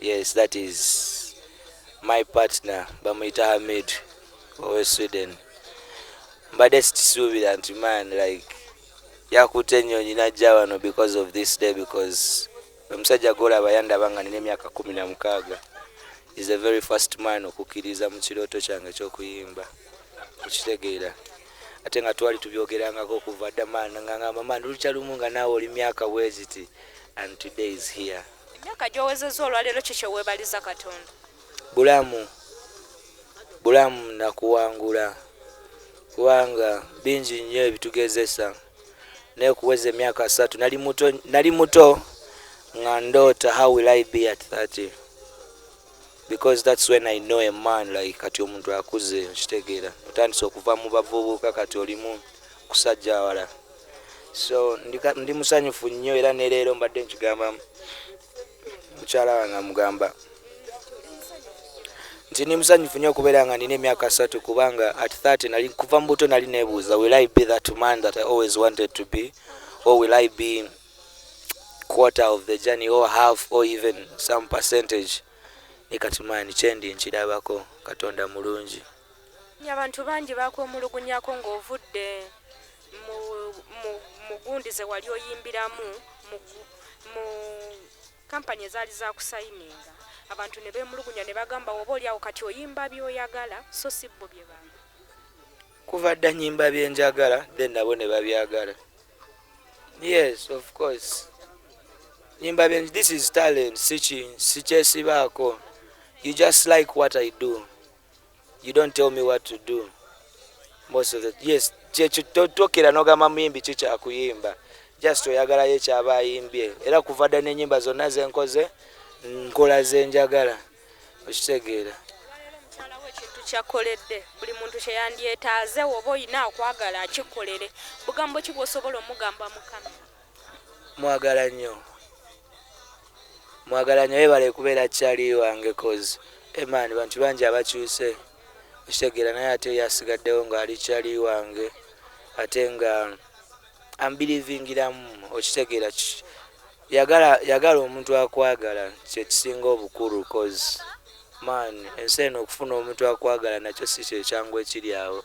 Yes, that is my partner bamuyita Hamid owe Sweden. Mbadde sikisuubira nti man like yakutte ennyonyi najja wano because of this day because omusajja gwolaba yandaba nga nina emyaka kumi na mukaaga is the very first man okukkiriza mu kirooto kyange ekyokuyimba okitegeera ate nga twali tubyogerangako okuva dda man nga ngamba man lukya lumu nga naawe oli myaka bweziti and today is here Emyaka gy'owezezza olwaleero ki kye weebaliza Katonda? Bulamu, bulamu na kuwangula kubanga bingi nnyo ebitugezesa naye okuweza emyaka asatu nali muto, nali muto nga ndoota how will I be at 30 because that's when I know a man like kati omuntu akuze nkitegeera otandise okuva mu bavubuka kati olimu kusajja awala so ndi musanyufu nnyo era ne leero mbadde nkigamba mukyala wange amugamba nti ndi musanyufu nnyo okubeera nga nina emyaka asatu kubanga at 30 nali kuva mu buto nali nebuuza will i be that man that i always wanted to be or will i be quarter of the journey or half or even some percentage ne kati maani kyendi nkirabako katonda mulungi abantu bangi bakwemulugunyako ng'ovudde mu gundi ze wali oyimbiramu mu kampani ezaali zakusayininga abantu ne beemulugunya ne bagamba oba oli awo kati oyimba byoyagala so si bbo bye bantu kuva dda nyimba byenjagala then nabo ne babyagala yes of course nyimba byen this is talent sikyesibaako you just like what i do you don't tell me what to do most of the yes kyekitokera nogamba muyimbi ki kyakuyimba just oyagalayo ekyaba ayimbye era kuva dda nenyimba zonna zenkoze nkola zenjagala okitegeera kyakoledde buli muntu kyeyandyetaaze woba olina okwagala akikolere bugambo ki bwosobola omugamba mukama mwagala nnyo mwagala nnyo yebale kubeera kyali wange cause eman bantu bangi abakyuse okitegeera naye ate yasigaddewo ng'ali kyali wange ate nga ambilivingiramu okitegeera yagala yagala omuntu akwagala kyekisinga obukulu cause man ensi eno okufuna omuntu akwagala nakyo si kyekyangu ekiri awo